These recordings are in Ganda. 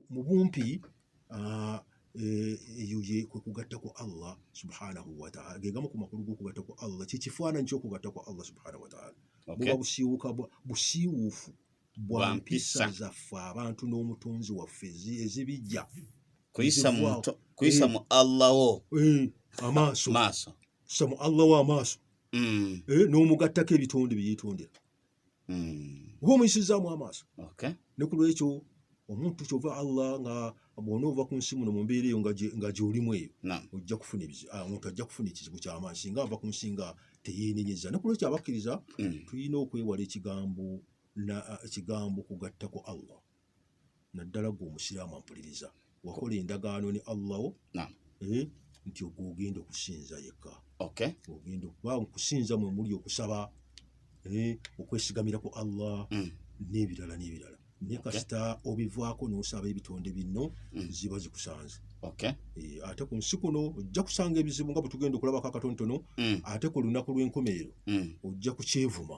mu bumpi ah, Eh, eyo ye kwe kugatta ku Allah subhanahu wa ta'ala ge gamu ku makulu g'okugatta ku Allah kye kifaananyi ky'okugatta ku Allah subhanahu wa ta'ala buba busiiwuka busiiwuufu bwa mpisa zaffe abantu n'omutonzi waffe ezibijja kuyisa mu Allah wo eh, amaaso kuyisa mu Allah wo amaaso mm. eh, n'omugattako ebitonde bye yeetondera mm. oba omuyisizzaamu amaaso okay. ne ku lwekyo omuntu kyova allah nga bwona ova ku nsi muno mu mbeera eyo nga gyolimu eyo ojja kufuna ah, omuntu ajja kufuna ekizibu kyamaanyi singa ava ku nsi nga teyeenenyeza ne ku lwekyo abakkiriza mm. tulina okwewala ekigambo ah, ekigambo kugattako allah naddala gwe omusiraamu ampuliriza wakola endagaano ne allah wo eh, nti ogwo ogenda okusinza yekka ogenda okuba okusinza mwe muli okusaba eh, okwesigamira ku allah mm. n'ebirala n'ebirala naye kasita obivaako n'osaba ebitonde binno mm. ziba zikusanze eh, ate ku nsi kuno ojja kusanga ebizibu nga bwe tugenda okulabako akatontono mm. ate ku lunaku lw'enkomerero ojja kukyevuma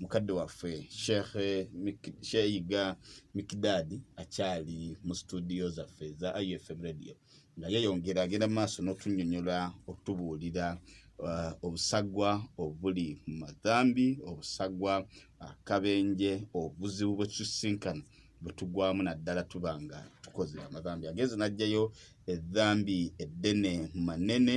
mukadde waffe sheikh sheyiga mikidadi akyali mu situdiyo zaffe eza ifm radio nga yeyongera agenda mu maaso n'otunyonyola okutubuulira uh, obusagwa obuli mu madhambi obusagwa akabenje obuzibu bwetusinkana bwetugwamu naddala tuba nga tukoze amadhambi agenze najjayo edhambi eddene mu manene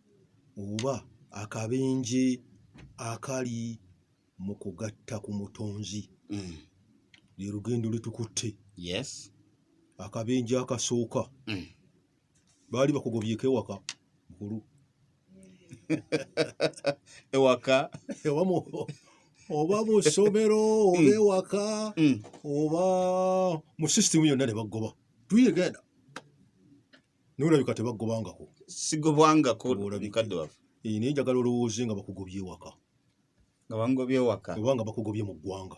oba akabenje akali mu kugatta ku mutonzi mm. lye lugendo lwe tukutte yes akabenje akasooka mm. baali bakugobyeko ewaka mukulu ewaka ewamu oba mu ssomero oba mm. ewaka mm. oba mu sisitimu yonna ne bagoba tuyegenda naye olabika tebagobangako sigobwangako mukadde waffe eh, naye njagala olowooze nga bakugobye ewaka nga bangobye ewaka oba nga bakugobye mu ggwanga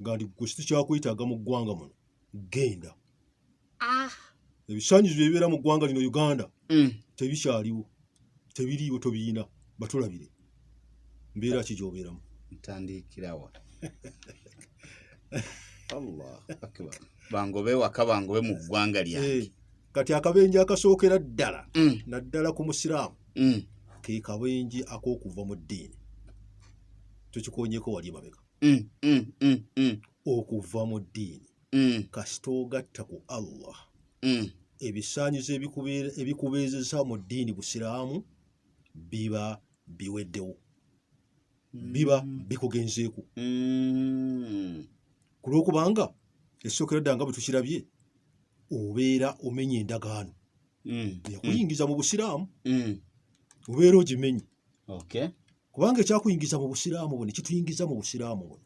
nga ndi gwe kitu kyakwetaaga mu ggwanga muno genda ah. ebisanyizo byebibeera mu ggwanga lino uganda mm. tebikyaliwo tebiriiwo tobiyina batulabire mbeera ki gyobeeramu ntandikirawa allah akbar bangobe waka bangobe mu ggwanga lyange eh, kati akabenje akasookera ddala mm. naddala ku musiraamu mm. ke kabenje ak'okuva mu ddiini tukikonyeko wali emabega mm, okuva mu ddiini kasita ogatta ku allah mm. ebisaanyizo ebikubeezeza mu ddiini busiraamu biba biweddewo mm. biba bikugenzeeku mm. ku lwokubanga esookera dda nga bwe tukirabye obeera omenya endagaano mm. yakuyingiza mu busiraamu mm. obeera ogimenye okay. kubanga ekyakuyingiza mu busiraamu buno kituyingiza mu busiraamu buno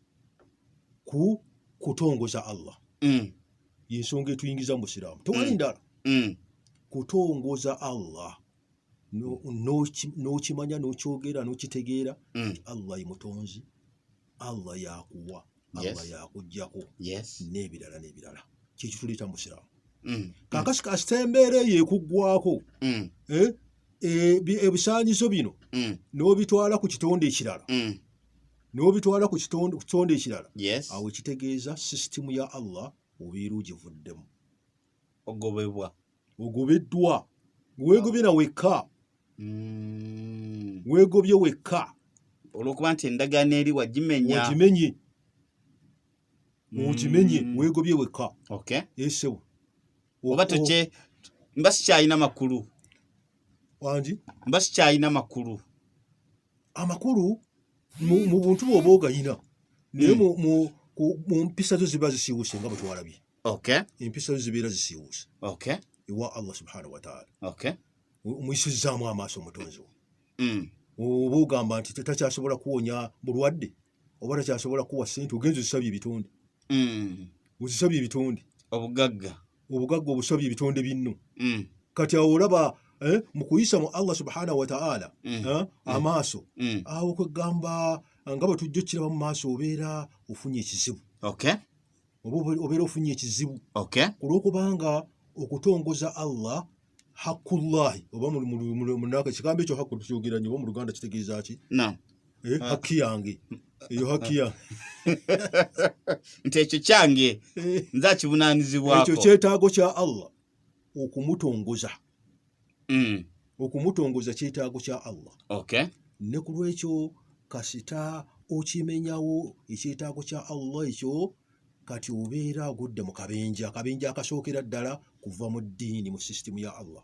ku kutongoza allah mm. yensonga etuyingiza mu busiraamu tewali mm. ndala mm. kutongoza allah n'okimanya n'okyogera n'okitegeera mm. allah ye mutonzi Allah yakuwa Allah yakujjako n'ebirala n'ebirala kyekituleeta mu busiraamu mm. kakasi kasita embeera eyo ekuggwako mm. eh, eh, ebisaanyizo bino mm. n'obitwala ku kitonde ekirala n'obitwala ku kitonde ekirala awo ekitegeeza sisitimu ya Allah obeera ogivuddemu ogobebwa ogobeddwa weegobye na wekka mm. weegobye wekka olwokuba nti endagaano eri wagimenya ogimenye mm. ogimenye weegobye wekka esewo oba toke mba sikyalina makulu wangi mba sikyalina makulu amakulu mu buntu bwoba ogayina naye mm. mu mpisa zo ziba zisiwuse nga bwetwalabye okay. empisa zo zibeera zisiiwuuse okay. ewa allah subhanahu wataala okay. omuyisizzaamu amaaso omutonzi wo mm. oba ogamba nti takyasobola kuwonya bulwadde oba takyasobola kuwa sente ogenza ozisabye ebitonde mm. ozisabye ebitonde obugagga obugagga obusabye ebitonde binno mm. kati awo olaba eh, mu kuyisa mu allah subhanahu wataala mm. eh, mm. amaaso mm. awo kwegamba nga bwe tujja okukiraba mu maaso obeera ofunye ekizibu okay. oba obeera ofunye ekizibu okay. kulwokubanga okutongoza allah hakullahi oba munaka ekigambo ekyo haku tukyogera nyo oba mu luganda kitegeeza ki eh, ah. haki yange eyo haki ah. yange nti ekyo kyange eh. nze akibunanizibwako ekyo kyetaago kya allah okumutongoza mm. okumutongoza kyetaago kya Allah okay. ne ku lwekyo kasita okimenyawo ekyetaago kya Allah ekyo kati obeera agudde mu kabenje akabenje akasookera ddala kuva mu ddiini mu sisitimu ya Allah